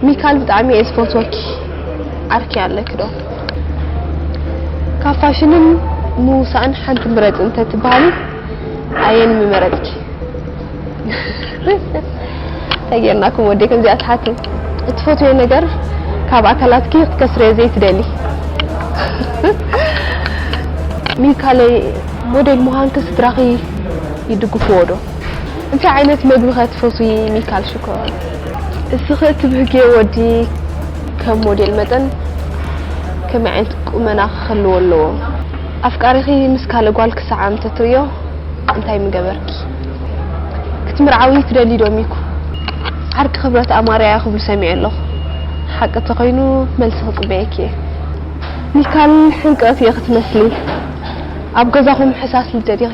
ሚካል ብጣዕሚ እየ ዝፈትወኪ ዓርኪ ኣለኪ ዶ? ካብ ፋሽንን ምውሳእን ሓንቲ ምረፂ እንተትበሃሊ ኣየን ምመረፅኪ? ታይ ጌርናኩም ወደይ ከምዚኣ ትሓቱ እትፈትውዮ ነገር ካብ ኣካላትኪ ክትከስርዮ ዘይትደሊ ሚካለይ ሞዴል ምዃንኪ ስድራኺ ይድግፍዎ ዶ? እንታይ ዓይነት መግቢኸ ትፈትዊ ሚካል ሽኮር? እስኺ እትብህግዮ ወዲ ከም ሞዴል መጠን ከመይ ዓይነት ቁመና ክህልዎ ኣለዎ? ኣፍቃሪኺ ምስ ካልእ ጓል ክሰዓም ተትርእዮ እንታይ ምገበርኪ? ክትምርዓዊ ትደልዪ ዶ ሚኩ? ዓርኪ ክብረት ኣማርያ'ያ ክብሉ ሰሚዐ ኣለኹ ሓቂ እንተኾይኑ መልሲ ክጽበየኪ እየ። ሚካል ሕንቅቕት እየ ክትመስሊ ኣብ ገዛኹም ሕሳስ ልደ ዲኺ?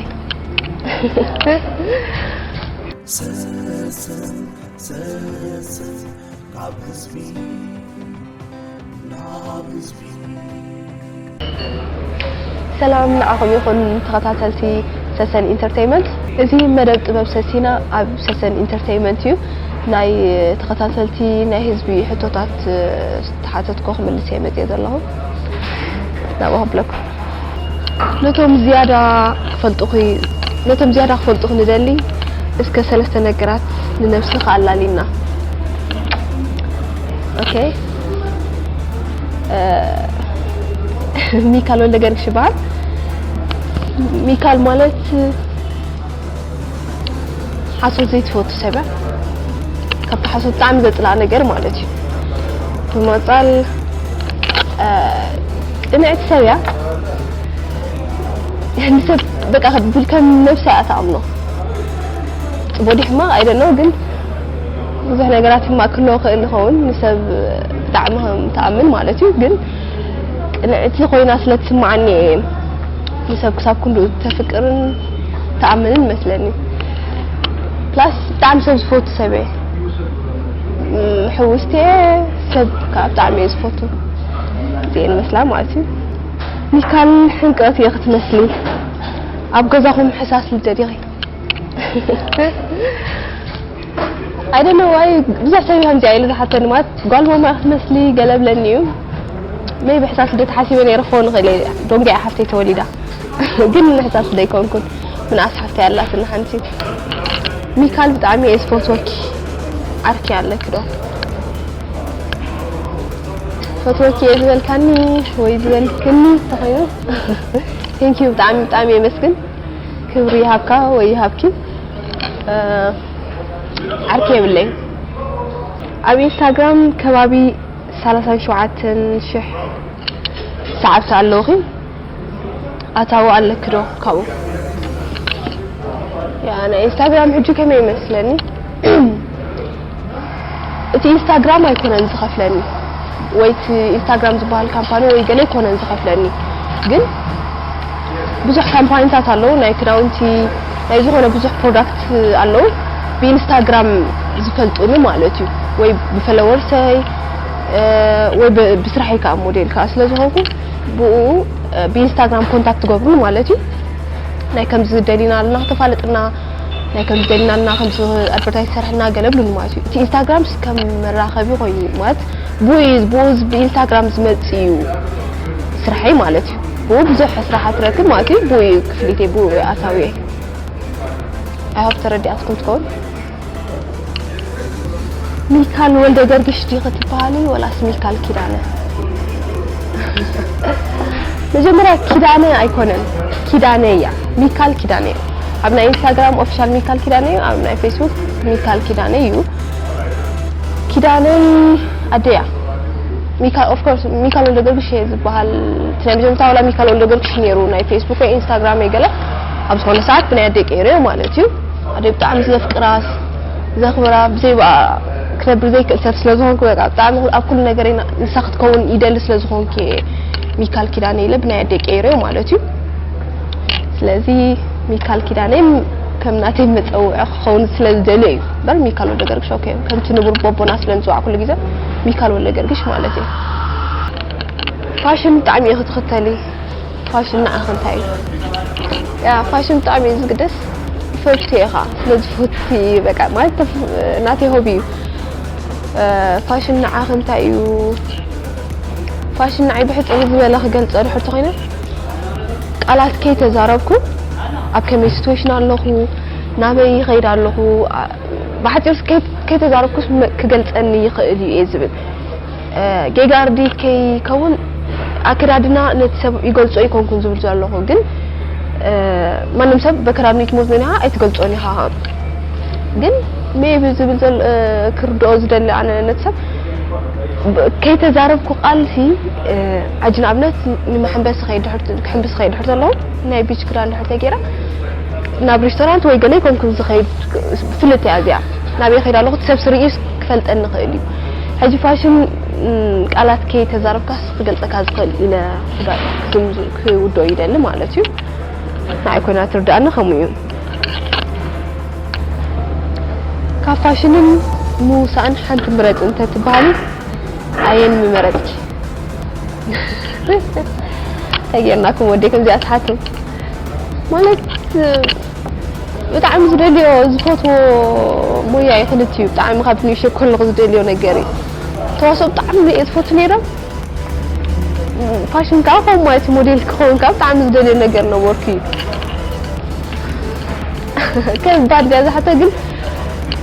ሰላም ንዓኹም ይኹን ተኸታተልቲ ሰሰን ኢንተርተይመንት። እዚ መደብ ጥበብ ሰሲና ኣብ ሰሰን ኢንተርተይመንት እዩ። ናይ ተኸታተልቲ ናይ ህዝቢ ሕቶታት ዝተሓተትኩ ክምልስ እየ መፅየ ዘለኹ ናብኡ ከብለኩም። ነቶም ዝያዳ ክፈልጡኺ ነቶም ዝያዳ ክፈልጡኺ ንደሊ እስከ ሰለስተ ነገራት ንነብስኺ ኣላልይና። ኦኬ ሚካል ወልደገርግሽ ይበሃል። ሚካል ማለት ሓሶት ዘይትፈቱ ሰብ እያ ካብቲ ሓሶት ብጣዕሚ ዘፅላእ ነገር ማለት እዩ ብምቕፃል ቅንዕቲ ሰብ እያ ንሰብ በቃ ከም ነብሳ እያ ትኣምኖ ፅቡቅ ድዩ ሕማቅ ኣይደነው ግን ብዙሕ ነገራት ሕማቅ ክህልዎ ክእል ይኸውን ንሰብ ብጣዕሚ ከም ትኣምን ማለት እዩ ግን ቅንዕቲ ኮይና ስለ ትስማዓኒ እየ ንሰብ ክሳብ ክንድኡ ተፍቅርን ትኣምንን ይመስለኒ ፕላስ ብጣዕሚ ሰብ ዝፈቱ ሰብ እየ ሕውስቲ እየ ሰብ ከዓ ብጣዕሚ እየ ዝፈቱ እዚኤን መስላ ማለት እዩ ሚካል ሕንቅረት እየ ክትመስሊ ኣብ ገዛኹም ሕሳስ ልደት ኢኺ I don't know why ብዙሕ ሰብ ከምዚኣ ኢሉ ዝሓተኒ ማለት ጓል ማማ ክትመስሊ ገለ ብለኒ እዩ መይ ብሕሳስ ልደት ሓሲበ ነይረ ክኸውን ይኽእል እየ ዶንጌ ሓፍተይ ተወሊዳ ግን ንሕሳስ ዘይኮንኩን ምንኣስ ሓፍተይ ኣላትና ሓንቲ ሚካል ብጣዕሚ እየ ዝፈትወኪ ዓርኪ ኣለኪ ዶ ፈትወኪ እየ ዝበልካኒ ወይ ዝበልክኒ ተኾይኑ ቴንኪዩ ብጣዕሚ ብጣዕሚ የመስግን ክብሪ ይሃብካ ወይ ይሃብኪ ዓርኪ የብለይን ኣብ ኢንስታግራም ከባቢ ሰላሳን ሸውዓተን ሽሕ ሰዓብቲ ኣለውኺ ኣታዊ ኣለኪ ዶ ካብኡ ያ ናይ ኢንስታግራም ሕጂ ከመይ ይመስለኒ እቲ ኢንስታግራም ኣይኮነን ዝኸፍለኒ ወይ እቲ ኢንስታግራም ዝበሃል ካምፓኒ ወይ ገለ ኣይኮነን ዝኸፍለኒ ግን ብዙሕ ካምፓኒታት ኣለዉ ናይ ክዳውንቲ ናይ ዝኾነ ብዙሕ ፕሮዳክት ኣለዉ ብኢንስታግራም ዝፈልጡኒ ማለት እዩ ወይ ብፈለወርሰይ ወይ ብስራሕይ ከዓ ሞዴል ከዓ ስለ ዝኾንኩ ብኡ ብኢንስታግራም ኮንታክት ገብሩኒ ማለት እዩ ናይ ከምዚ ደሊና ኣለና ክተፋልጥና ናይ ከምዚ ጀግናና ከምዚ ኣድቨርታይዝ ዝሰርሐልና ገለ ብሉኒ ማለት እዩ እቲ ኢንስታግራምስ ከም መራኸቢ ኮይኑ ማለት ብኡ እዩ ብኡ ብኢንስታግራም ዝመጽእ እዩ ስርሐይ ማለት እዩ ብኡ ብዙሕ ስራሓት ትረክብ ማለት እዩ ብኡ እዩ ክፍሊተይ ብኡ ኣታዊየ ኣይሆፕ ተረዲኣትኩም ትኸውን ሚልካል ወልደገርግሽ ዲኺ ትበሃሊ ወላስ ሚልካል ኪዳነ? መጀመርያ ኪዳነ ኣይኮነን ኪዳነ እያ ሚልካል ኪዳነ እዩ። ኣብ ናይ ኢንስታግራም ኦፊሻል ሚልካል ኪዳነ እዩ፣ ኣብ ናይ ፌስቡክ ሚልካል ኪዳነ እዩ። ኪዳነይ ኣደያ ሚካ ኦፍ ኮርስ ሚካል ወልደ ጊዮርጊስ እየ ዝበሃል እቲ ናይ መጀመርታ ዋላ ሚካል ወልደ ጊዮርጊስ ነይሩ ናይ ፌስቡክ ወይ ኢንስታግራም ገለ ኣብ ዝኾነ ሰዓት ብናይ ኣደይ ቀይረዮ ማለት እዩ ኣደይ ብጣዕሚ ዘፍቅራስ ዘኽብራ ብዘይ ብኣ ክነብር ዘይክእል ሰብ ስለ ዝኾንኩ በቃ ብጣዕሚ ኣብ ኩሉ ነገረይ ንሳ ክትከውን ይደሊ ስለ ዝኾንኩ እየ ሚካል ኪዳነ ኢለ ብናይ ኣደይ ቀይረዮ ማለት እዩ ስለዚ ሚካል ኪዳነ ከም ናተይ መፀውዒ ክኸውን ስለ ዝደልዮ እዩ እምበር ሚካል ወልደ ገርግሽ ኦኬ ከምቲ ንቡር ቦቦና ስለ ንፅዋዕ ኩሉ ግዜ ሚካል ወልደ ገርግሽ ማለት እዩ ፋሽን ብጣዕሚ እየ ክትኽተሊ ፋሽን ንዓኺ እንታይ እዩ? ያእ ፋሽን ብጣዕሚ እዩ ዝግደስ ፈትሽዮ ኢኻ ስለ ዝፈቲ በቃ ማለት ናተይ ሆቢ እዩ ፋሽን ንዓኺ እንታይ እዩ? ፋሽን ንዓይ ብሕጽር ዝበለ ክገልጾ ድሕር ተኾይነ ቃላት ከይተዛረብኩ ኣብ ከመይ ሲትዌሽን ኣለኹ ናበይ ይኸይድ ኣለኹ ብሓጺር ከይተዛረብኩስ ክገልጸኒ ይኽእል እዩ እየ ዝብል ጌጋ ኣርዲት ከይከውን ኣከዳድና ነቲ ሰብ ይገልጾ ኣይኮንኩን ዝብል ዘለኹ ግን ማንም ሰብ በከዳድኑ ይትሞት መን ኢኻ ኣይትገልጾን ኢኻ ግን ሜቢ ዝብል ዘል ክርድኦ ዝደሊ ኣነ ነቲ ሰብ ከይተዛረብኩ ቃልሲ ሕጂ ንኣብነት ንመሐንበሲ ከይ ድሕር ክሕንብስ ከይ ድሕር ዘለኹ ናይ ቢች ክዳን ድሕር ተገይራ ናብ ሬስቶራንት ወይ ገለ ይኮንኩን ዝኸይድ ፍልጥ እያ እዚኣ ናበይ ከይድ ኣለኹ እቲ ሰብ ስርኢስ ክፈልጠኒ ይኽእል እዩ ሕጂ ፋሽን ቃላት ከይተዛረብካስ ክገልጸካ ዝኽእል ኢለ ክውድኦ ይደሊ ማለት እዩ ንዓይ ኮይና ትርድኣኒ ከምኡ እዩ ካብ ፋሽንን ምውሳእን ሓንቲ ምረጽ እንተትበሃሊ ኣየን ምመረጽኪ ተጌርናኩም ወዴ ከምዚኣ ትሓቱ ማለት ብጣዕሚ ዝደልዮ ዝፈትዎ ሞያ እዩ ክልቲኡ ብጣዕሚ ካብ ንእሽተይ ከለኹ ዝደልዮ ነገር እዩ ተዋስኦ ብጣዕሚ እየ ዝፈቱ ነይረ ፋሽን ከዓ ከምኡ ማለት እዩ ሞዴል ክኸውን ከዓ ብጣዕሚ ዝደልዮ ነገር ነበርኩ እዩ ከባድ ድያ እዛ ሕቶ ግን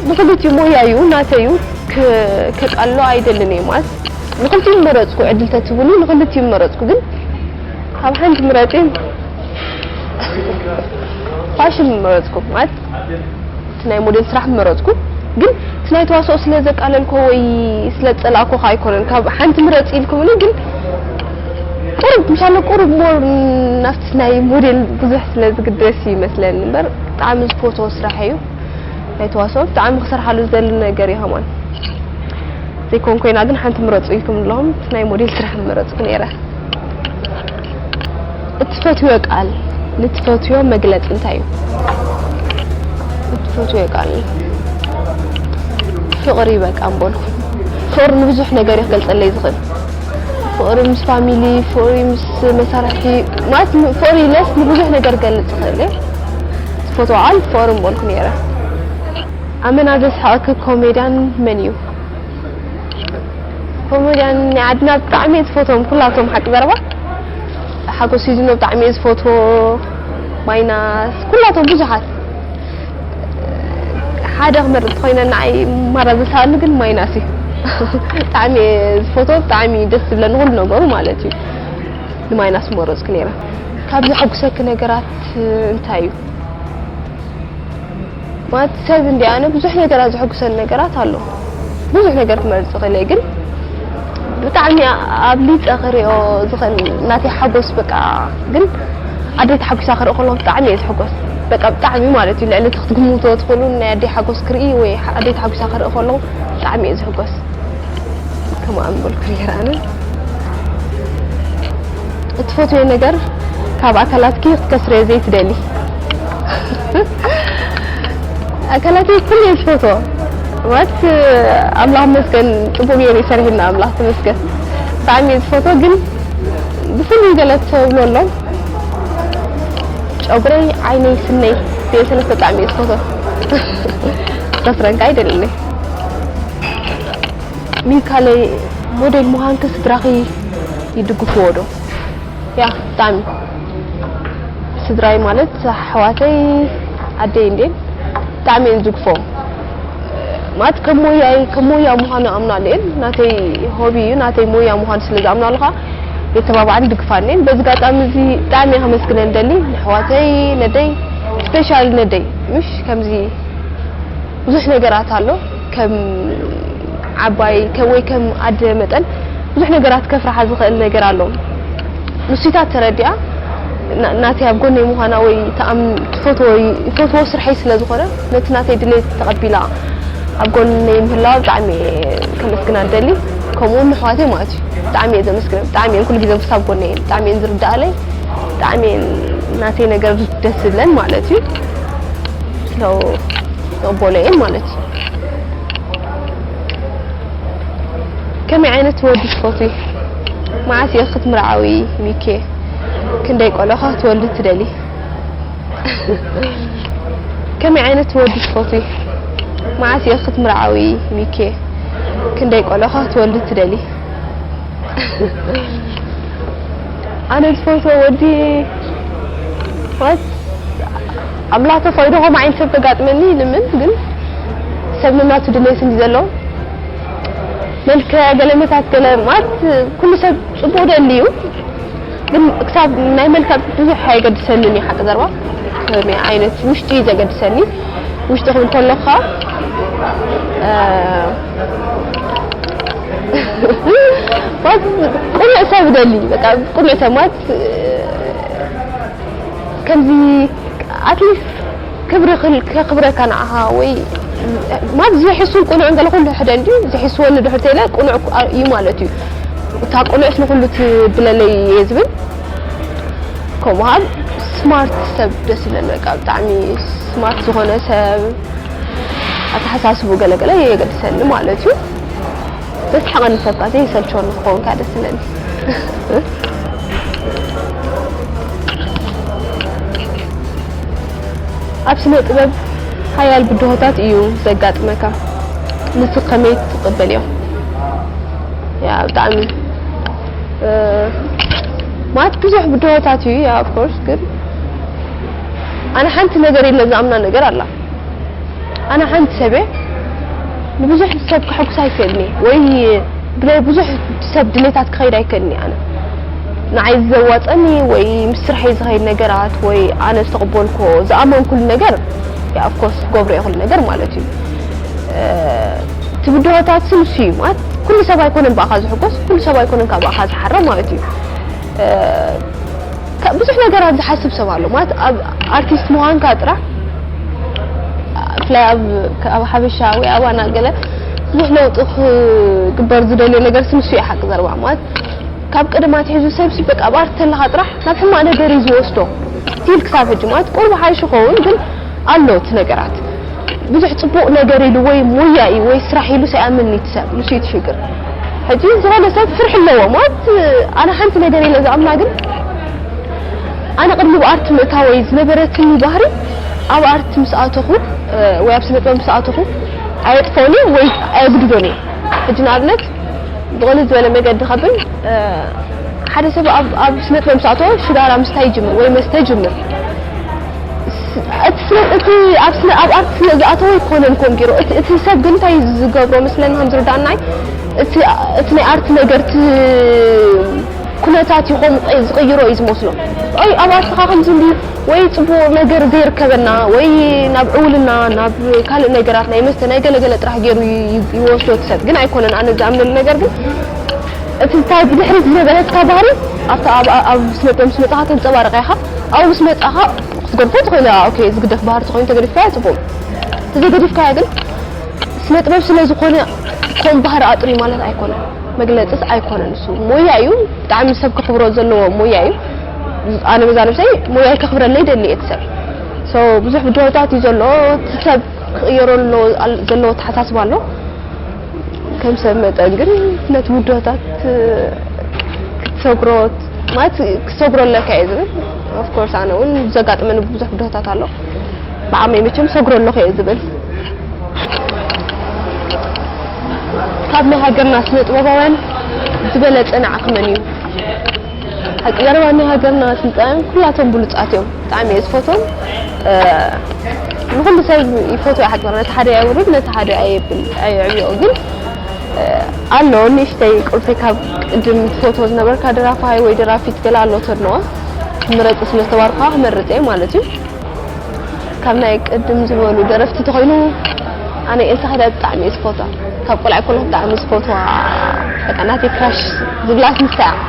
ንክልቲኡ ሞያ እዩ ናተዩ ከቃሎ ኣይደልን እየ ማለት ንክልቲኡ መረፅኩ ዕድል ተትብሉ ንክልቲኡ መረፅኩ ግን ካብ ሓንቲ ምረጪ ፋሽን ምመረጽኩ ማለት እቲ ናይ ሞዴል ስራሕ ምመረጽኩ ግን እቲ ናይ ተዋስኦ ስለ ዘቃለልኮ ወይ ስለ ዝጸላእኮ ከ ኣይኮነን ካብ ሓንቲ ምረጽ ኢልኩምኒ ግን ቁሩብ ምሻለ ቁሩብ ሞር ናብቲ ናይ ሞዴል ብዙሕ ስለ ዝግደስ እዩ ይመስለኒ እምበር ብጣዕሚ ዝፈትዎ ስራሕ እዩ ናይ ተዋስኦ ብጣዕሚ ክሰርሓሉ ዝደሊ ነገር እዩ ሃማን ዘይኮን ኮይና ግን ሓንቲ ምረጹ ኢልኩም ኣለኹም እቲ ናይ ሞዴል ስራሕ ምመረጽኩ ነይረ እትፈትዮ ቃል ንትፈትዮ መግለፂ እንታይ እዩ? እትፈትዮ ቃል ፍቕሪ በቃ እምበልኩ። ፍቕሪ ንብዙሕ ነገር እዩ ክገልፀለይ ዝኽእል። ፍቕሪ ምስ ፋሚሊ፣ ፍቕሪ ምስ መሳርሕቲ ማለት ፍቕሪ ኢለስ ንብዙሕ ነገር ገልፅ ይኽእል እየ። ትፈትዎ ቃል ፍቕሪ እምበልኩ ነይረ። ኣመና ዘስሕቐኪ ኮሜድያን መን እዩ? ከምኡ ድያን ናይ ዓድና ብጣዕሚ እየ ዝፈትዎም ኩላቶም ሓቂ ዘረባ ሓጎስ ሲዝኖ ብጣዕሚ እየ ዝፈትዎ ማይናስ ኩላቶም ብዙሓት ሓደ ክመርፅ ኮይነ ንዓይ ማራ ዘስኣሉ ግን ማይናስ እዩ ብጣዕሚ እየ ዝፈትዎ ብጣዕሚ እዩ ደስ ዝብለኒ ኩሉ ነገሩ ማለት እዩ ንማይናስ መረፅኩ ነይረ ካብ ዘሐጉሰኪ ነገራት እንታይ እዩ ማለት ሰብ እንድየ ኣነ ብዙሕ ነገራት ዘሐጉሰኒ ነገራት ኣሎ ብዙሕ ነገር ክመርጽ ይኽእል እየ ግን ብጣዕሚ ኣብሊጸ ክሪኦ ዝኽእል ናተይ ሓጎስ በቃ ግን ኣደይ ተሓጒሳ ክርኢ ከለኹ ብጣዕሚ እየ ዝሕጎስ በቃ ብጣዕሚ ማለት እዩ ልዕሊ እቲ ክትግምትዎ ትኽእሉ ናይ ኣደይ ሓጎስ ክርኢ ወይ ኣደይ ተሓጒሳ ክርኢ ከለኹ ብጣዕሚ እየ ዝሕጎስ ከምኣ ምበልኩ ነይረ ኣነ እትፈትዮ ነገር ካብ ኣካላትኪ ክትከስርዮ ዘይትደሊ ኣካላተይ ኩሉ እየ ዝፈትዎ ማለት ኣምላኽ ይመስገን ፅቡቅ ገይሩ እዩ ሰሪሑልና ኣምላኽ ተመስገን ብጣዕሚ እየ ዝፈትዎ ግን ብፍሉይ ገለ ተብሎ ኣሎ ጨጉረይ ዓይነይ ስነይ እዚኦ ሰለስተ ብጣዕሚ እየ ዝፈትዎ ከስረን ከዓ ይደሊ ሚካለይ ሞዴል ምዃንኪ ስድራኺ ይድግፍዎ ዶ ያክ ብጣዕሚ ስድራይ ማለት ኣሕዋተይ ኣደይ እንዴን ብጣዕሚ እየን ዝግፎ ማለት ከም ሞያይ ከም ሞያ ምዃኑ ኣምናሉ እየን ናተይ ሆቢ እዩ ናተይ ሞያ ምዃኑ ስለ ዝኣምናሉ ከዓ የተባብዓን ድግፋን እየን በዚ ጋጣሚ እዚ ብጣዕሚ እየ ከመስግነን ደሊ ንሕዋተይ ነደይ ስፔሻሊ ነደይ ምሽ ከምዚ ብዙሕ ነገራት ኣሎ ከም ዓባይ ወይ ከም ኣደ መጠን ብዙሕ ነገራት ከፍርሓ ዝኽእል ነገር ኣሎ ንሱይታት ተረዲኣ ናተይ ኣብ ጎነይ ምዃና ወይ ትፈትዎ ይፈትዎ ስርሐይ ስለ ዝኾነ ነቲ ናተይ ድሌት ተቐቢላ ኣብ ጎነይ ምህላዋ ብጣዕሚ እየ ከመስግና ዝደሊ ከምኡ ውን ንኣሕዋተይ ማለት እዩ ብጣዕሚ እየ ዘመስግነን ብጣዕሚ እየን ኩሉ ግዜ ክሳብ ጎነይ እየን ብጣዕሚ እየን ዝርድኣለይ ብጣዕሚ እየን ናተይ ነገር ደስ ዝብለን ማለት እዩ ያው መቦለየ ማለት እዩ ከመይ ዓይነት ወዲ ትፈትዊ መዓስ እየ ክትምርዓዊ ሚኪየ ክንደይ ቆልዑ ክትወልዲ ትደሊ ከመይ ዓይነት ወዲ ትፈትዊ መዓስ እየ ክትምርዓዊ ሚኪየ ክንደይ ቆልዑ ክትወልዲ ትደሊ ኣነ ዝፈትዎ ወዲ ኣምላኽ ተፈቂዱ ከምኡ ዓይነት ሰብ ከጋጥመኒ ይልምን ግን ሰብ ነናቱ ድሌት እንድዩ ዘለዎ መልክዕ ገለ መታት ገለ ማለት ኩሉ ሰብ ጽቡቅ ደሊ እዩ ግን ክሳብ ናይ መልክዕ ብዙሕ ኣይገድሰንን እዩ ሓቂ ዘርባ ከመይ ዓይነት ውሽጢ እዩ ዘገድሰኒ ውሽጢ ክብል ከለኩ ቅኑዕ ሰብ ደሊ በቃ ቅኑዕ ሰብ ማለት ከምዚ ኣትሊስት ክብሪ ከኽብረካ ንዓኻ ወይ ማለት ዝሕሱን ቁኑዕን ገለ ኩሉ ሕደ እንድዩ ዝሕስወኒ ድሕር ተይለ ቁኑዕ እዩ ማለት እዩ እታ ቁኑዕስ ንኹሉ ትብለለይ እየ ዝብል ከምኡ ሃል ስማርት ሰብ ደስ ይብለኒ በቃ ብጣዕሚ ስማርት ዝኾነ ሰብ ኣተሓሳስቡ ገለገለ የገድሰኒ ማለት እዩ ዘስሕቐኒ ሰብ ከኣ ዘይሰልቸወኒ ክኸውን ከኣ ደስ ይብለኒ። ኣብ ስነ ጥበብ ሓያል ብድሆታት እዩ ዘጋጥመካ ንሱ ከመይ ትቕበልዮ ያ ብጣዕሚ ማለት ብዙሕ ብድሆታት እዩ ያ ኦፍኮርስ ግን ኣነ ሓንቲ ነገር ኢለ ዝኣምና ነገር ኣላ ኣነ ሓንቲ ሰብየ ንብዙሕ ሰብ ከሐጉሳ ኣይክእልኒ ወይ ብናይ ብዙሕ ሰብ ድሌታት ክኸይድ ኣይክእልኒ ኣነ ንዓይ ዘዋፀኒ ወይ ምስ ስርሐይ ዝኸይድ ነገራት ወይ ኣነ ዝተቐበልኮ ዝኣመንኩሉ ነገር ኣፍኮርስ ክገብሮ እየ ኩሉ ነገር ማለት እዩ ትብድሆታት ስም እሱ እዩ ማለት ኩሉ ሰብ ኣይኮነን ብኣኻ ዝሕጎስ ኩሉ ሰብ ኣይኮነን ካብ ብኣኻ ዝሓረ ማለት እዩ ብዙሕ ነገራት ዝሓስብ ሰብ ኣሎ ማለት ኣብ ኣርቲስት ምዃንካ ጥራሕ ብፍላይ ኣብ ሓበሻ ወይ ኣባና ገለ ብዙሕ ለውጢ ክግበር ዝደልዮ ነገርሲ ንሱ እዩ ሓቂ ዘረባ ማለት ካብ ቀደም ኣትሒዙ ሰብሲ በቃ ኣብ ኣርት ተለኻ ጥራሕ ናብ ሕማቕ ነገር እዩ ዝወስዶ ስቲል ክሳብ ሕጂ ማለት ቁሩብ ሓይሹ ኸውን ግን ኣሎ እቲ ነገራት ብዙሕ ጽቡቅ ነገር ኢሉ ወይ ሞያ ኢዩ ወይ ስራሕ ኢሉስ ኣይኣምንን ኢዩ እቲ ሰብ ንሱ ኢዩ እቲ ሽግር ሕጂ ዝኮነ ሰብ ፍርሒ ኣለዎ ማለት ኣነ ሓንቲ ነገር ኢለ ዝኣምና ግን ኣነ ቅድሚ ኣብ ኣርት ምእታወይ ዝነበረትኒ ባህሪ ኣብ ኣርት ምስ ኣተኹ ወይ ኣብ ስነ ጥበብ ምስ ኣተኹ ኣየጥፍኦን ኢየ ወይ ኣየግድዶን ኢየ ሕጂ ንኣብነት ብቅልል ዝበለ መገዲ ከብል ሓደ ሰብ ኣብ ኣብ ስነ ጥበብ ምስ ኣተወ ሽጋራ ምስታይ ይጅምር ወይ መስተ ይጅምር እቲ ስነ እቲ ኣብ ስነ ኣብ ኣርት ስለ ዝኣተወ ኣይኮነን ከምኡ ጌሩ እቲ እቲ ሰብ ግን እንታይ እዩ ዝገብሮ መስለኒ ከም ዝርዳእናይ እቲ እቲ ናይ ኣርት ነገር እቲ ኩነታት እዩ ከምኡ ዝቕይሮ እዩ ዝመስሎ ኣይ ኣብ ኣርትኻ ከምዚ እንድዩ ወይ ጽቡቕ ነገር ዘይርከበና ወይ ናብ ዕውልና ናብ ካልእ ነገራት ናይ መስተ ናይ ገለገለ ጥራሕ ጌሩ ይወስዶ እቲ ሰብ ግን ኣይኮነን ኣነ ዝኣምነሉ ነገር ግን እቲ እታ ብድሕሪት ዝነበረትካ ባህሪ ኣብታ ኣብ ኣብ ስነ ጥበብ ምስ መጻኻ ተንጸባርቓ ኢኻ ኣብኡ ምስ መጻኻ ክትገድፎ ትኽእል ኢኻ ኦኬ ዝግደፍ ባህሪ ተኾይኑ ተገዲፍካዮ ጽቡቕ እንተዘይገዲፍካዮ ግን ስነጥበብ ስለዝኾነ ከምኡ ባህሪ ኣጥርዩ ማለት ኣይኮነን መግለጽስ ኣይኮነን ንሱ ሞያ እዩ ብጣዕሚ ሰብ ከኽብሮ ዘለዎ ሞያ እዩ ኣነ በዛ ነብሰይ ሞያይ ከኽብረለይ ይደሊ እቲ ሰብ ሶ ብዙሕ ብድሆታት እዩ ዘሎ እቲ ሰብ ክቕየሮ ዘለዎ ኣተሓሳስባ ኣሎ ከም ሰብ መጠን ግን ነቲ ብድሆታት ክትሰግሮ ማለት ክሰግሮ ኣለካ እየ ዝብል ኦፍኮርስ ኣነ እውን ዘጋጥመኒ ብዙሕ ብድሆታት ኣሎ ብዓመይ መቸም ሰግሮ ኣለኹ እየ ዝብል ካብ ናይ ሃገርና ስነ ጥበባውያን ዝበለፀ ንዓኺ መን እዩ ሓቂ ዘረባ ናይ ሃገርና ስልጣውያን ኩላቶም ብሉፃት እዮም ብጣዕሚ እየ ዝፈትዎም ንኩሉ ሰብ ይፈትዎ ሓቂ ነቲ ሓደ ኣይውርድ ነቲ ሓደ ኣየብል ኣየዕብዮ ግን ኣሎ ንእሽተይ ቁልፊ ካብ ቅድም ትፈትዎ ዝነበርካ ደራፋይ ወይ ደራፊት ገለ ኣሎ ተድንቆ ምረጽ ስለ ዝተባርኩካ ክመርጽ እየ ማለት እዩ ካብ ናይ ቅድም ዝበሉ ደረፍቲ ተኮይኑ ኣነ ኤልሳ ከዳ ብጣዕሚ እየ ዝፈትዋ ካብ ቆልዓ ኮለኩ ብጣዕሚ ዝፈትዋ በቃ ናተይ ክራሽ ዝብላስ ንሳ እያ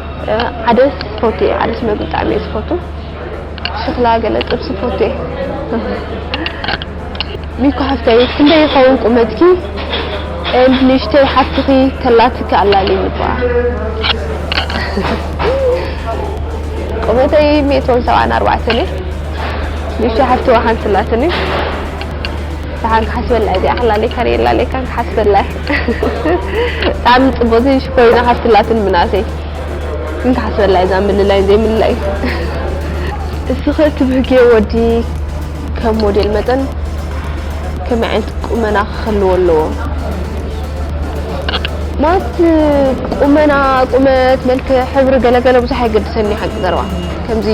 ዓደስ ይፈቱ እየ ዓደስ መግቢ ብጣዕሚ እየ ዝፈቱ ሽክላ ገለ ጥብሲ ይፈቱ እየ ሚኩ ሓፍተይ ክንደይ ይኸውን ቁመትኪ ኤንድ ንእሽተይ ሓፍትኺ ተላትኪ ኣላልይኒ እኳ ቁመተይ ሚእትን ሰብዓን ኣርባዕተን እየ ንእሽተይ ሓፍቲ እኳ ሓንቲ ኣላትኒ ደሓን ክሓስበላ እየ እዚኣ ክላለየካ ነየላለየካን ክሓስበላ እየ ብጣዕሚ ፅቡቅ እዚ ሽኮሪና ሓፍቲ ላትን ምናሰይ ግን ክሓስበላ እየ እዛ ምልላይን ዘይምልላይን እስኺ እቲ ብህጌ ወዲ ከም ሞዴል መጠን ከመይ ዓይነት ቁመና ክህልዎ ኣለዎ ማለት ቁመና ቁመት መልክዕ ሕብሪ ገለገለ ብዙሕ ኣይገድሰኒ ሓቂ ዘረባ ከምዚ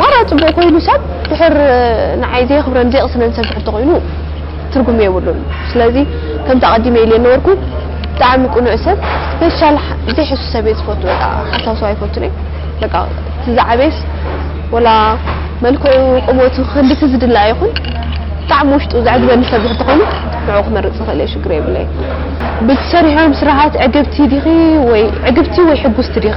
ማራ ጽቡቅ ኮይኑ ሰብ ድሕር ንዓይ ዘየክብረን ዘይቅስነን ሰብ ድሕር ተኮይኑ ትርጉም የብሉን ስለዚ ከምቲ ኣቀዲመ ኢልየ ነበርኩ ብጣዕሚ ቁኑዕ ሰብ ስፔሻል ዘይሕሱ ሰብ እየ ዝፈቱ በቃ ሓሳዊ ሰብ ኣይፈቱን እየ በቃ እቲ ዝዓበየስ ወላ መልክዑ ቁመቱ ክንድቲ ዝድለ ኣይኹን ብጣዕሚ ውሽጡ ዘዕግበኒ ሰብ ድሕር ተኮይኑ ንዕኡ ክመርጽ ይክእል እየ ሽግር የብለይን። ብትሰርሕዮም ስራሓት ዕግብቲ ዲኺ ወይ ዕግብቲ ወይ ሕጉስቲ ዲኺ?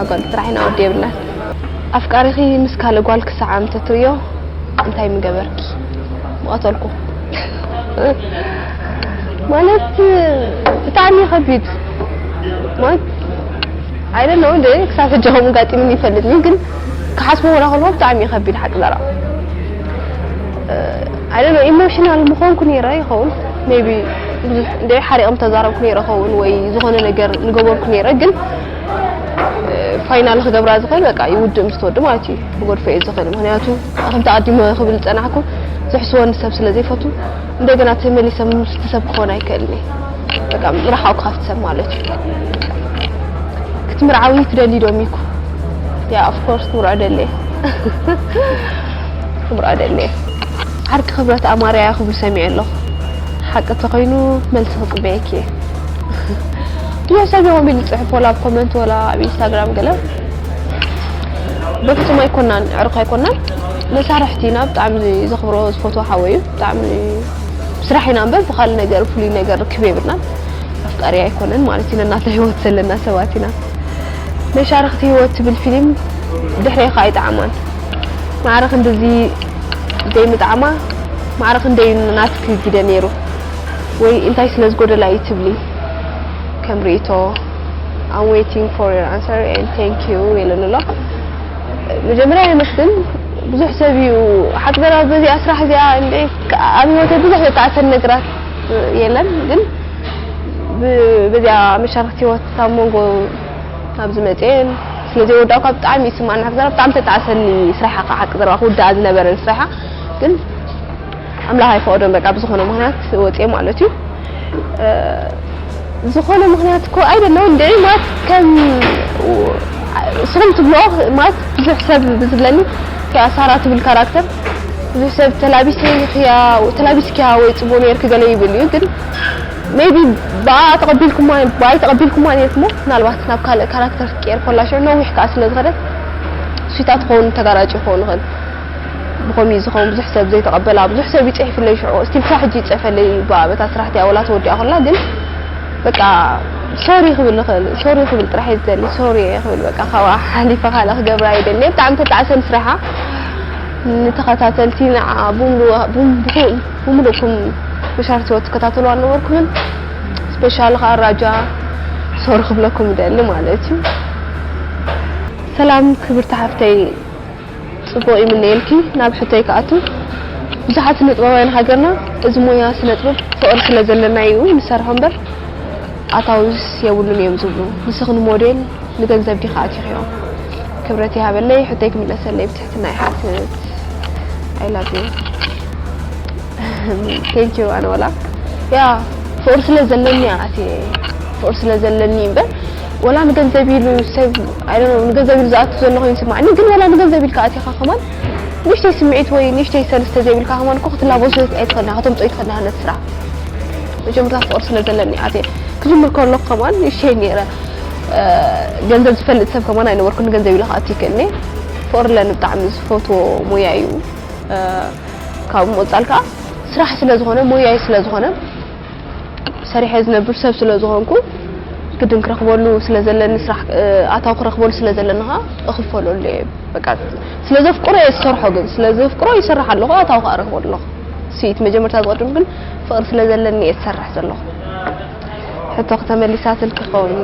ኣጓል ጥራሕ ኢና ወዲ የብልናን። ኣፍቃሪኺ ምስ ካልእ ጓል ክሰዓም ተትርእዮ እንታይ ምገበርኪ? ምቐተልኩ። ማለት ብጣዕሚ እዩ ከቢድ ማለት ኣይ ዶንት ኖው እንደ ክሳብ ሕጂ ከምኡ ጋጢምኒ ይፈልጥን እዩ ግን ክሓስቦ ወላ ከለኹ ብጣዕሚ እዩ ከቢድ ሓቂ ዘረባ ኣይ ዶንት ኖው ኢሞሽናል ምኾንኩ ነይረ ይኸውን ሜይ ቢ ብዙሕ እንደ ሓሪቐም ተዛረብኩ ነይረ ይኸውን ወይ ዝኾነ ነገር ምገበርኩ ነይረ ግን ፋይናል ክገብራ ዝኽእል በቃ ይውድእ ምስ ተወዲ ማለት እዩ ክጎድፎ እየ ዝኽእል ምክንያቱ ከምቲ ኣዲሞ ክብል ዝፀናሕኩ ዝሕስወኒ ሰብ ስለ ዘይፈቱ እንደገና ተመሊሰ ምስቲ ሰብ ክኾን ኣይክእልን እየ በቃ ርሓቑ ካብቲ ሰብ ማለት እዩ ክትምርዓዊ ትደሊ ዶ ሚኩ ያ ኦፍኮርስ ክምርዖ ደለ ክምርዖ ደለ ዓርኪ ክብረት ኣማርያ ክብሉ ሰሚዐ ኣለኹ ሓቂ ተኾይኑ መልሲ ክፅበየኪ እየ ድሮ ሰብ ይኹን ቢሉ ዝጽሕፍ ወላ ኣብ ኮመንት ወላ ኣብ ኢንስታግራም ገለ በፍጹም ኣይኮናን ዕርኽ ኣይኮናን መሳርሕቲ ኢና ብጣዕሚ ዘኽብሮ ዝፈትዎ ሓወይ እዩ ብጣዕሚ ስራሕ ኢና እምበር ብካልእ ነገር ፍሉይ ነገር ርክብ የብልናን ኣፍቃሪ ኣይኮነን ማለት እዩ ነናተ ህይወት ዘለና ሰባት ኢና መሻርኽቲ ህይወት ትብል ፊልም ድሕሬ ከዓ ይጠዓማን ማዕረ ክንድዚ ዘይምጥዓማ ማዕረ ክንደዩ ናትኪ ግደ ነይሩ ወይ እንታይ ስለ ዝጎደላ እዩ ትብሊ ከም ሪኢቶ I'm waiting for your answer and thank you የለን ኣሎ መጀመርያ የመስግን ብዙሕ ሰብ እዩ ሓቅበራ በዚኣ ስራሕ እዚኣ ኣብ ህይወተይ ብዙሕ ዘጣዕሰን ነገራት የለን ግን በዚኣ መሻርክቲ ህይወት ኣብ መንጎ ካብ ዝመፅኤን ስለዚ ወዳእኳ ብጣዕሚ ይስማዕና ሓቅዘራ ብጣዕሚ ተጣዕሰኒ ስራሓ ሓቅዘራ ክውዳኣ ዝነበረን ስራሓ ግን ኣምላኽ ኣይፈቐዶን በቃ ብዝኾነ ምኽንያት ወጽየ ማለት እዩ ዝኾነ ምኽንያት እኮ ኣይደለውን እንድዒ ማለት ከም ንስኹም ትብልኦ ማለት ብዙሕ ሰብ ብዝብለኒ እቲኣ ሳራ ትብል ካራክተር ብዙሕ ሰብ ተላቢሰይክያ ተላቢስክያ ወይ ፅቡቅ ነርኪ ገለ ይብል እዩ ግን ሜቢ ብኣ ተቐቢልኩማ ብኣይ ተቐቢልኩማ ነርኩሞ ምናልባት ናብ ካልእ ካራክተር ክትቀየር ኮላ ሽዑ ነዊሕ ከዓ ስለ ዝኸደት ስዊታት ክኸውን ተጋራጭ ክኸውን ይኽእል ብኸምኡ እዩ ዝኸውን ብዙሕ ሰብ ዘይተቐበላ ብዙሕ ሰብ ይጽሒፍለይ ሽዑ እስቲል ክሳብ ሕጂ ይጽሕፈለይ እዩ ብኣ በታ ስራሕቲኣ ወላ ተወዲኣ ኮላ ግን በቃ ሶሪ ክብል ይኽእል ሶሪ ክብል ጥራሕ እየ ዝደሊ ሶሪ እየ ክብል በቃ ካብኣ ሓሊፈ ካልእ ክገብር ኣይደልየ ብጣዕሚ ተጣዕሰን ስራሓ ንተኸታተልቲ ንዓ ብምሉእኩም መሻርክቲ ህይወት ትከታተልዋ ኣነበርኩምን ስፔሻሊ ከዓ ራጃ ሶሪ ክብለኩም እደሊ ማለት እዩ ሰላም ክብርቲ ሓፍተይ ጽቡቕ ይምነየልኪ ናብ ሕቶይ ክኣቱ ብዙሓት ስነጥበባውያን ሃገርና እዚ ሞያ ስነጥበብ ፍቕሪ ስለ ዘለና ኢዩ ንሰርሖ እምበር ኣታዊስ የብሉን ኢዮም ዝብሉ ንስኺ ንሞዴል ንገንዘብ ዲኺ ኣቲኺዮ ክብረት ይሃበለይ ሕቶይ ክምለሰለይ ብትሕትና ይሓትት i love you thank you ኣነ ወላ ያ ፍቕሪ ስለ ዘለኒ ኢያ ኣትየ ፍቕሪ ስለ ዘለኒ ኢዩ እምበር ወላ ንገንዘብ ኢሉ ሰብ ኣይ ዶንት ኖው ንገንዘብ ኢሉ ዝኣቱ ዘሎ ኮይኑ ይስማዓኒ ግን ወላ ንገንዘብ ኢልካ ኣቲኻ ከማን ንእሽተይ ስምዒት ወይ ንእሽተይ ሰልፍ ተዘይብልካ ከማን እኮ ክትላበሶ ኣይትኽእልን ኢኻ ከተምጽኦ ኣይትኽእልን ኢኻ ነቲ ስራሕ መጀመርታ ፍቕሪ ስለ ዘለኒ ኣትየ ክጅምር ከለኹ ከማን ንእሽተይ ነይረ ገንዘብ ዝፈልጥ ሰብ ከማን ኣይነበርኩን ንገንዘብ ኢለ ክኣቱ ይክእልኒ ፍቕሪ ኣለኒ ብጣዕሚ ዝፈትዎ ሞያ እዩ ካብ ምቕጻል ከዓ ስራሕ ስለ ዝኾነ ሞያይ ስለ ዝኾነ ሰሪሐ ዝነብር ሰብ ስለ ዝኾንኩ ግድን ክረኽበሉ ስለ ዘለኒ ስራሕ ኣታዊ ክረኽበሉ ስለ ዘለኒ ኸኣ እኽፈለሉ እየ በቃ ስለ ዘፍቅሮ እየ ዝሰርሖ ግን ስለ ዘፍቅሮ ይሰርሕ ኣለኹ ኣታዊ ኸኣ ረኽበሉ ኣለኹ ስኢት መጀመርታ ዝቐድም ግን ፍቕሪ ስለ ዘለኒ እየ ዝሰርሕ ዘለኹ ሕቶኺ ተመሊሳትልኪ ክኸውን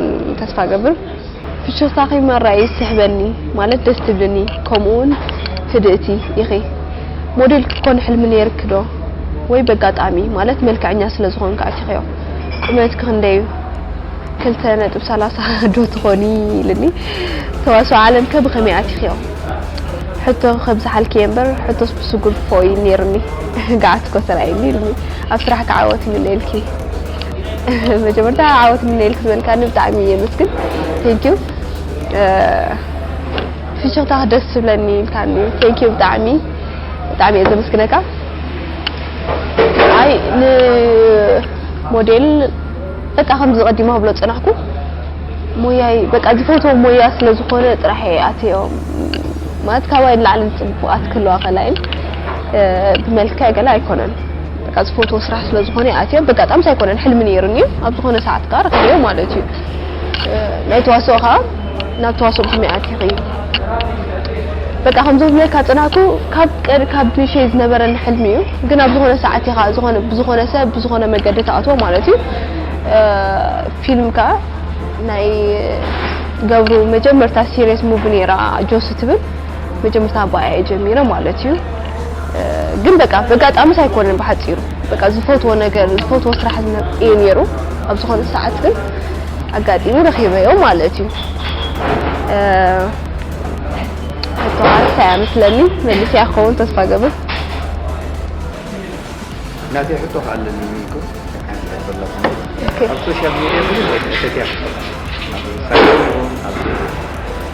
ተስፋ እገብር ፍሽኽታኺ መራይ ይስሕበኒ ማለት ደስ ትብልኒ ከምኡ ውን ህድእቲ ኢኺ ሞዴል ክትኮኒ ሕልሚ ነይርኪ ዶ ወይ በጋጣሚ ማለት መልክዐኛ ስለ ዝኾንኪ ኣቲኽዮ ቁመትኪ ክንደይ ዩ ክልተ ነጥቢ ሰላሳ ዶ ትኾኒ ኢልኒ ተዋስኦ ዓለም ከ ብኸመይ ኣቲኽዮ ሕቶ ከብዝሓልኪ እየ እምበር ሕቶስ ብስጉምቲ ፎእ ዩ ነይሩኒ ገዓት እኮ ተራእዩኒ ኢልኒ ኣብ ስራሕኪ ዓወት ይምነየልኪ መጀመርታ ዓወት ምነየልክ ዝበልካኒ ብጣዕሚ እየ የመስግን ቴንኪዩ ፍሽኽታ ደስ ዝብለኒ ኢልካኒ ቴንኪዩ ብጣዕሚ ብጣዕሚ እየ ዘመስግነካ ኣይ ንሞዴል በቃ ከምዚ ቀዲማ ክብሎ ዝፀናሕኩ ሞያይ በቃ ዝፈትዎ ሞያ ስለ ዝኾነ ጥራሕ እየ ኣትዮ ማለት ካባይ ንላዕሊ ፅቡቃት ክህልዋ ከላይን ብመልክዕ ገለ ኣይኮነን በቃ ዝፈትዎ ስራሕ ስለ ዝኾነ ይኣትዮ በጋጣምስ ኣይኮነን ሕልሚ ነይሩኒ እዩ ኣብ ዝኾነ ሰዓት ከኣ ረኺበዮ ማለት እዩ ናይ ተዋስኦ ከኣ ናብ ተዋስኦ ብኸመይ ኣቲኺ በቃ ከምዞም ዝብለካ ጽናኩ ካብ ቀድ ካብ ንሸይ ዝነበረኒ ሕልሚ እዩ ግን ኣብ ዝኾነ ሰዓት ኢኻ ዝኾነ ብዝኾነ ሰብ ብዝኾነ መገዲ ተኣትዎ ማለት እዩ ፊልም ከኣ ናይ ገብሩ መጀመርታ ሲሪየስ ሙቪ ነይራ ጆሲ ትብል መጀመርታ ኣባይ ኣየ ጀሚረ ማለት እዩ ግን በቃ በጋጣምስ ኣይኮነን ብሓፂሩ በቃ ዝፈትዎ ነገር ዝፈትዎ ስራሕ እዩ ነይሩ ኣብ ዝኾነ ሰዓት ግን ኣጋጢሙ ረኺበዮ ማለት እዩ ተዋርሳያ ምስለኒ መልስያ ክኸውን ተስፋ ገብር ናተይ ሕቶ ከዓ ኣለኒ ምንኩ ኣብ ሶሻል ሚዲያ ብዙሕ እተትያ ኣብ ሳይን ይኹን ኣብ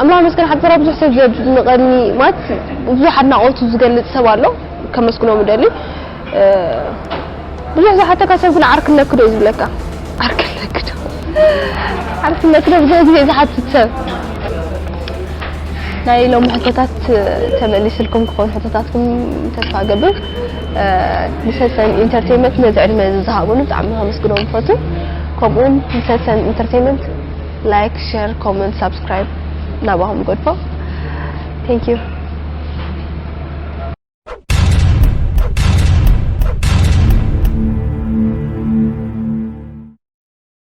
ኣምላኽ ይመስገን ሓብትና ብዙሕ ሰብ ዘድንቐኒ ማለት ብዙሕ ኣድናቖቱ ዝገልጽ ሰብ ኣሎ ከመስግኖ ምደሊ ብዙሕ ዝሓተካ ሰብ ግን ዓርክ ኣለክዶ እዩ ዝብለካ ዓርክ ኣለክዶ ዓርክ ኣለክዶ ብዙሕ ግዜ ዝሓትት ሰብ ናይ ሎም ሕቶታት ተመሊስልኩም ክኾን ሕቶታትኩም ተስፋ ገብር ንሰሰን ኢንተርተይመንት ነዚ ዕድመ እዚ ዝሃቡኒ ብጣዕሚ ከመስግኖም ይፈቱ ከምኡውን ንሰሰን ኢንተርተይመንት ላይክ ሸር ኮመንት ሳብስክራይብ ናባኹም ይገድፎ ቴንክ ዩ